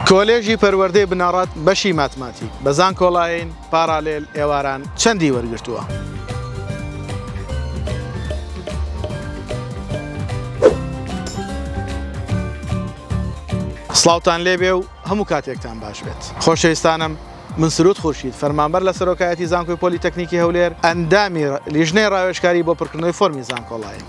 کۆلێژی پەروەردەی بنەڕەت بەشی ماتماتیک بە زانکۆڵاین، پاڕالێل، ئێواران چەندی وەرگرتووە؟ سڵاوتان لێبێ و هەموو کاتێکتان باش بێت. خۆشەویستانم، من سرود خورشید، فەرمانبەر لە سەرۆکایەتی زانکۆی پۆلیتەکنیکی هەولێر، ئەندامی لیژنەی ڕاوێژکاری بۆ پڕکردنەوەی فۆرمی زانکۆڵاین.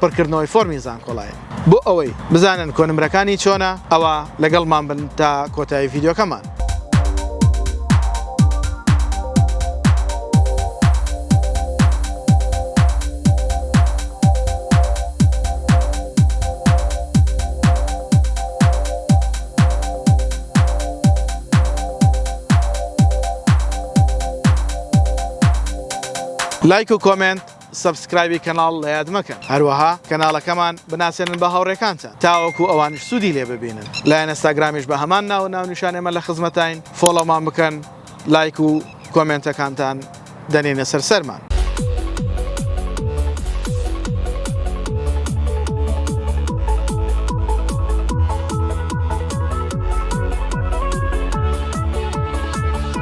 پڕکردنەوەی فۆرمی زانکۆڵاین. بۆ ئەوەی بزانن کۆنمرەکانی چۆنە ئەوا لەگەڵمان بن تا کۆتایی ڤیدیۆکەمان. لایک و کۆمێنت سەبسکرایبی کەناڵ لە یاد مەکەن هەروەها کەناڵەکەمان بناسێنن بە هاوڕێکانتان تاوەکو ئەوانیش سودی لێ ببینن لە ئێنستاگرامیش بە هەمان ناوو ناونیشان ئێمە لە خزمەتاین فۆڵۆمان بکەن لایک و کۆمێنتەکانتان دەنێنە سەر سەرمان.